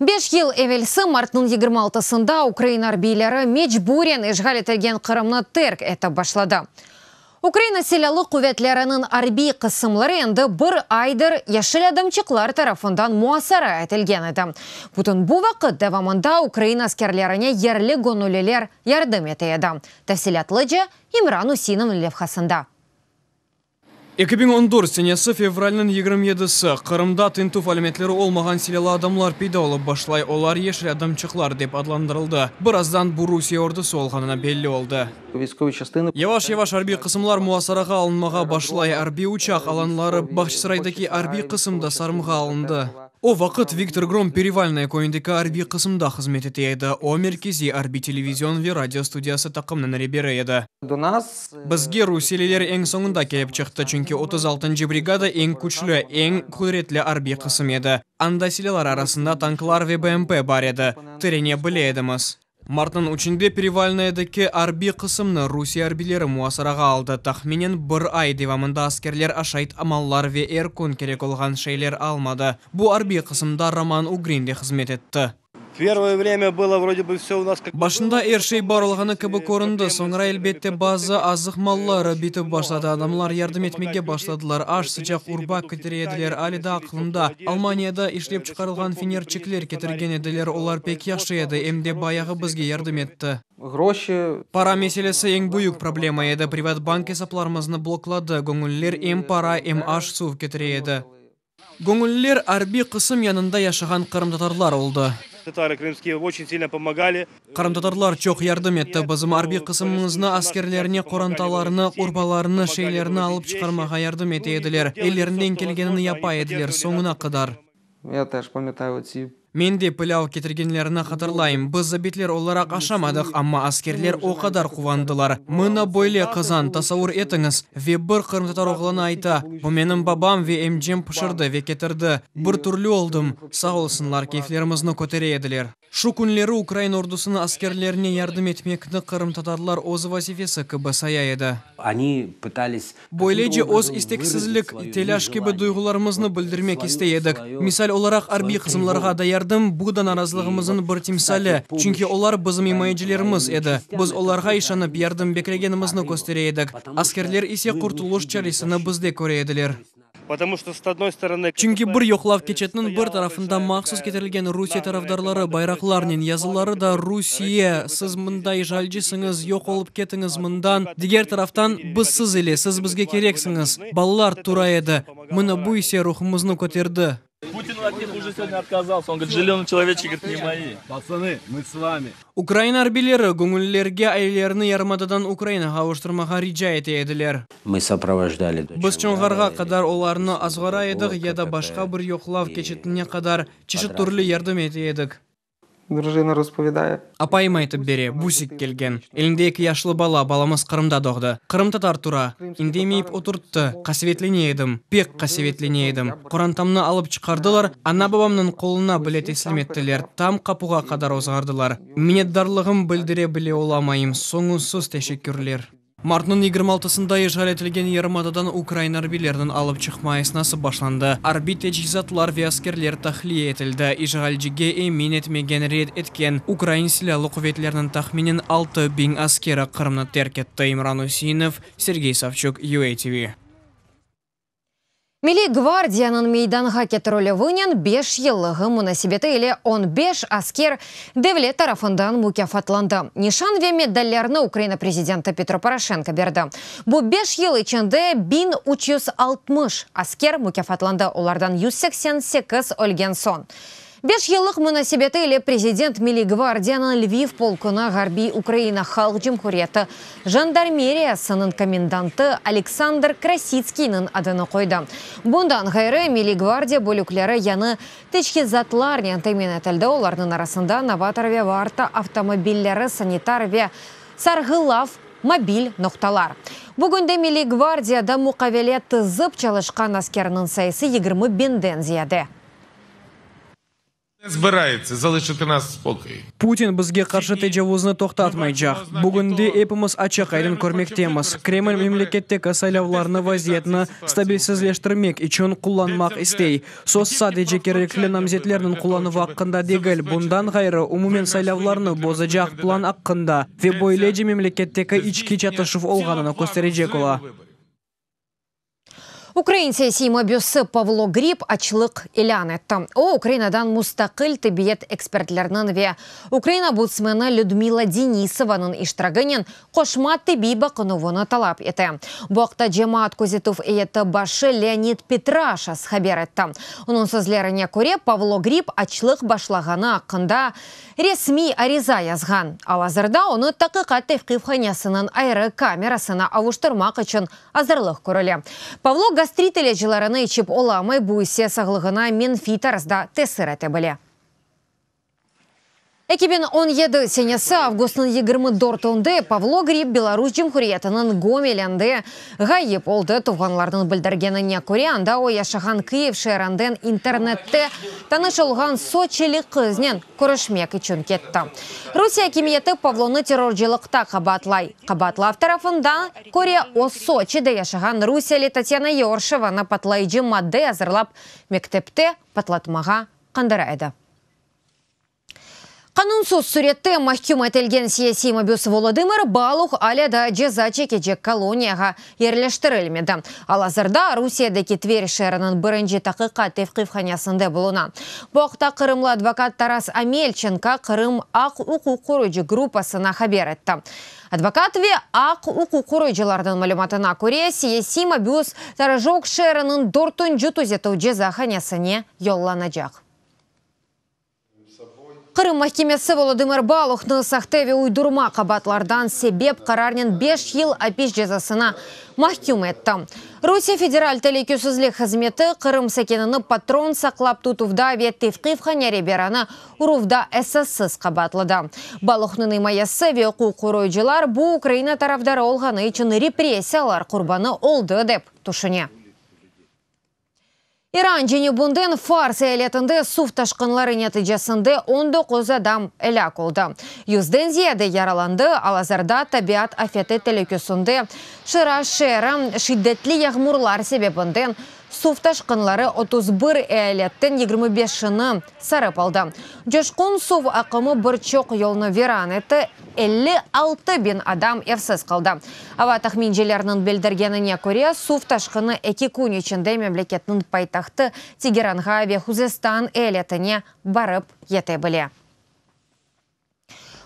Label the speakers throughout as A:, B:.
A: Beş yıl evelsi martnıñ yigirmi altısında ukrain arbiyleri mecburen işğal etilgen Qırımnı terk etip başladı. Ukraina Silâlı quvetleriniñ arbiy qısımları endi bir aydır Yeşil adamçıqlar tarafından muasara etilgen edi. Bütün bu vaqıt devamında ukrain askerlerine yerli göñülliler yardım ete edi, tafsilâtlıca İmran Üsinniñ levhasında. Eki biñ on
B: dört senesi fevralniñ yigirmi yedisi, Qırımda tintüv alâmetleri olmağan silâlı adamlar peyda olıp başlay, olar yeşil adamçıqlar dep adlandırıldı. Birazdan bu Rusiye ordusı olğanına belli oldı. Yavaş-yavaş arbiy qısımlar muasarağa alınmağa başlay, arbiy uçaq alanları, Bahçısaraydaki arbiy qısım da sarımğa alındı. O vaqıt Viktor Grom Perivalnoye köyündeki arbiy qısımda hızmet ete edi, o, merkeziy arbiy televizion ve radio studiyası taqımnıñ reberi edi. Bizge rusiyeliler eñ soñunda kelip çıqtı, çünki otuz altıncı brigada eñ küçlü, eñ qudretli arbiy qısım edi. Anda silâlar arasında tanklar ve BMP bar edi. Tirene bile edimiz. Martnıñ üçünde Perevalnoyedeki arbiy qısımnı rusiye arbiyleri muasarağa aldı. Tahminen bir ay devamında askerler aşayt mallar ve er kün kerek olğan şeyler almadı. Bu arbiy qısımda Roman Ugrin de hızmet etti. Başında er şey bar olğanı kibi köründi, soñra, elbette, bazı azıq malları bitip başladı, adamlar yardım etmege başladılar, aş, sıcaq urba ketire ediler, ali da aqlımda, Almaniyada işlep çıqarılğan fenerçikler ketirgen ediler, olar pek yahşı edi, em de bayağı bizge yardım etti. Para meselesi eñ büyük problema edi, privat bank esaplarımıznı blokladı, göñüller em para, em aş, suv ketire edi. Göñülliler arbiy qısım yanında yaşağan qırımtatarlar oldı. Tatarı krımskiyı oçün silno pomogâli. Qırımtatarlar çoq yardım etti bizim arbiy qısımımıznı, askerlerine qorantalarını, urbalarını, şeylerini alıp çıqarmağa yardım ete ediler, ellerinden kelgenini yapa ediler, soñuna qadar. Ya taş pametayı otsib. Men de pilâv ketirgenlerini hatırlayım. Biz zabitler olaraq aşamadıq, amma askerler o qadar quvandılar. Mına böyle qazan, tasavur etiñiz! Ve bir qırımtatar oğlanı ayta, Bu menim babam ve emcem pişirdi ve ketirdi. Bir türlü oldım. Sağ olsunlar, keyflerimizni kötere ediler. Şu künleri ukrain ordusınıñ askerlerine yardım etmekni qırımtatarlar öz vazifesi kibi saya edi. Onı pıtались Böylece öz isteksizlik, telâş kibi duyğularımıznı bildirmek istey edik. Misal olaraq, arbiy qısımlarğa da yardım, bu da narazılığımızın bir timsali, çünki olar bizim imayecilerimiz edi. Biz olarğa işanıp yardım beklegenimizni köstere edik, askerler ise qurtuluş çaresini bizde köre ediler. Çünki bir yoqlav keçetiniñ bir tarafında mahsus ketirilgen Rusiye tarafdarları bayraqlarnen yazıları da Rusiye, siz mında işğalcisiñiz, yoq olıp ketiñiz mından, diger taraftan, biz siz ile, siz bizge kereksiñiz, balalar tura edi. Mına bu ise ruhumıznı köterdi.
C: Ukraina arbileri
B: göñüllerge ailelerni yarımadadan Ukrainağa avuştırmağa rica ete ediler.
D: Biz Çonğarğa
B: qadar olarnı azğara edik ya da başqa bir yoqlav keçitine qadar çeşit türlü yardım ete edik. Drujina
E: ruspovedaya. Apayım aytıp bere,
B: Busik kelgen. Elinde eki yaşlı bala, balamız Qırımda doğdı. Qırımtatar tura. İndemeyip oturttı. Qasevetlene edim, pek qasevetlene edim. Qorantamnı alıp çıqardılar, ana-babamnıñ qoluna bile teslim ettiler, tam qapuğa qadar ozğardılar. Minnetdarlığım bildire bile olamayım, soñunsız teşekkürler. Martnıñ yigirmi altısında işğal etilgen yarımadadan ukrain arbiyleriniñ alıp çıqma esnası başlandı. Arbiy teçhizatlar ve askerler tahliye etildi. İşğalcige emin etmegen, red etken, ukrain silâlı quvetleriniñ tahminen altı biñ askeri Qırımnı terk etti, İmran Üseinov, Sergey Savçuk, UATV.
A: Milliy gvardiyanıñ meydanğa ketirilüvinen beş yıllığı munasebeti ile on beş asker devlet tarafından mukâfatlandı. Nişan ve medallerni Ukraina prezidenti Petro Poroşenko berdi. Bu beş yıl içinde biñ üç yüz altmış asker mukâfatlandı, olardan yüz seksen sekiz ölgen soñ. Beş yıllıq munasebeti ile prezident Milliy gvardiyanıñ Lviv polkuna Ğarbiy Ukraina Halq Cumhuriyeti jandarmeriyasınıñ komendantı Aleksandr Krasitskiyniñ adını qoydı. Bundan ğayrı, Milliy gvardiya bölükleri yañı teçhizatlarnen temin etildi, olarnıñ arasında Novator ve Varta avtomobilleri, sanitar ve Sarğılav mobil noqtalar. Bugün de Milliy gvardiyada muqavele tizip çalışqan askerniñ sayısı yigirmi biñden ziyade.
C: Putin bizge qarşı
B: tecavuznı toqtatmaycaq. Bugün de epimiz açıq-aydın körmektemiz, Kreml memleketteki saylavlarnı vaziyetni stabilsizleştirmek içün qullanmaq istey. Söz sadece kerekli namzetlerniñ qullanuvı aqqında degil, bundan ğayrı, umumen saylavlarnı bozacaq plan aqqında ve böylece memleketteki içki çatışuv olğanını kösterecek ola.
A: Ukrain siyasiy mabüsi Pavlo Grib açlıq ilân etti. O, Ukrainadan mustaqil tibiyet ekspertleriniñ ve Ukrain obudsmeni Lüdmila Denisovanıñ iştiraginen qoşma tibiy baqınuvını talap ete. Bu aqta cemaat közetüv eyyeti başı Leonid Petraşas haber etti. Onıñ sözlerine köre, Pavlo Grib açlıq başlağanı aqqında resmiy ariza yazğan. Al-azırda onı Taqiqat tevqifhanasınıñ ayrı kamerasına avuştırmaq içün azırlıq körüle. Pavlo gastrit ilâclarını içip olamay, bu ise sağlığına menfiy tarzda tesir ete bile. Eki biñ on yedi senesi avgustnıñ yigirmi dörtünde Pavlo Grip Belarus Cumhuriyetiniñ Gomelinde Ğayıp oldı, tuvğanlarnıñ bildirgenine köre, anda o yaşağan Kyiv şeerinden internette tanış olğan soçilik qıznen körüşmek içün ketti. Rusiye akimiyeti Pavlonı terrorcılıqta qabaatlay. Qabaatlav tarafına köre, o Soçide yaşağan rusiyeli Tatyana Yorşevanı patlayıcı madde azırlap mektepte patlatmağa qandıra edi. Qanunsız sürette mahküm etilgen siyasiy mabüs Volodımır Baluh alâ daa ceza çekecek koloniyağa yerleştirilmedi. Al-azırda Rusiyedeki Tver şeeriniñ birinci taqiqat tevqifhanasında buluna. Bu aqta qırımlı advokat Taras Amelçenko Qırım. Aq-uquq qorucı gruppasına haber etti. Advokat ve aq-uquq qorucılarnıñ malümatına köre, siyasiy mabüs Torojok şeeriniñ dörtünci tüzetüv cezahanasına yollanacaq. Qırım mahkemesi Volodımır Baluhnı sahte ve uydurma qabaatlardan sebep qararnen beş yıl apis cezasına mahküm etti. Rusiye Federal teleküsizlik hızmeti Qırım sakinini patron saqlap tutuvda ve tevqif hanyare-beranı uruvda esassız qabaatladı. Baluhnıñ imayesi ve uquq qoruyıcılar bu Ukraina tarafdarı olğanı içün repressiyalar qurbanı oldı dep tüşüne. İran cenübinden Fars eyaletinde suv taşqınları neticesinde on doquz adam elâk oldı, yüzden ziyade yaralandı, al-azırda tabiat afeti telükesinde Şiraz şeeri, şiddetli yağmurlar sebebinden suv taşqınları otuz bir eyaletten yigirmi beşini Sarıp aldı. Coşqun suv aqımı bir çoq yolnı viran etti, elli altı biñ adam evsiz qaldı. Ava tahmincelerniñ bildirgenine köre, suv taşqını eki kün içinde memleketniñ paytahtı Tegeranğa ve Huzestan eyaletine barıp yete bile.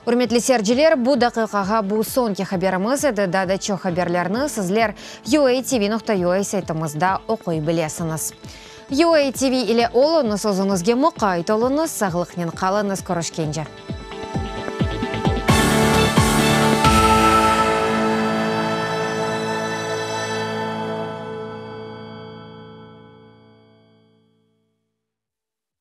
A: Ürmetli serciler, bu daqiqağa bu soñki haberimiz edi, daa da çoq haberlerni sizler UATV nuqta UA saytımızda oquy bilesiñiz. UATV ile oluñız, özüñizge muqayt oluñız, sağlıqnen qalıñız, körüşkence.